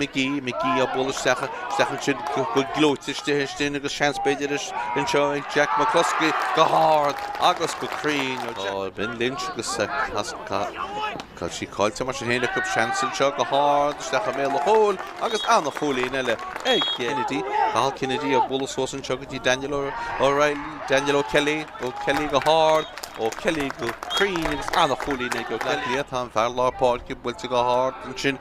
McGee, McGee á bualadh isteach, isteach ansin go gleoite istigh ansin agus seans b'fhéidir anseo ag Jack McCluskey, go hard agus go cruinn ó Ben Lynch agus tá sí cáillte mar sin féin acu, seans anseo go hard isteach i mbéal an chúil agus an-chúilín eile ag Kennedy, Cathal Kennedy á bualadh suas anseo go dtí Daniel O'Reilly, Daniel O'Kelly, O'Kelly go hard, O'Kelly go cruinn agus an-chúilín ag O'Kelly, tá an fear lár páirce buailte go hard ansin,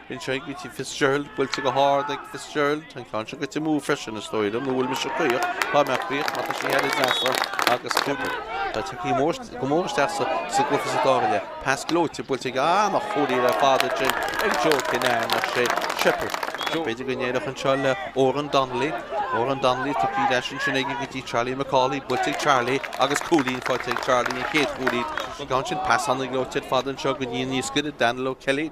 Anseo go dtí Fitzgerald, buailte go hard ag Fitzgerald, an ceann seo gaibhte amú freisin, is dóigh liom, nó an bhfuil mise caoch? Tá mé caoch, mar tá sí thar an trasnán agus cúilín. Tá turcaí mór, go mór isteach sa gcloch is sa dá ghile. Pas gleoite buailte aige ann, ach faraor ar fad ansin ag Joe Kinane, nach é? Sheppard. Joe, b'fhéidir go n-éireoidh anseo le Odhrán Donnelly. Odhrán Donnelly, tugtha ar ais ansin aige go dtí Charlie McAuley, buailte ag Charlie agus cúilín faighte ag Charlie, an chéad chúilín. Tá sé ansin, pas an-ghleoite ar fad anseo go dtí an iascaire, Daniel O'Kelly.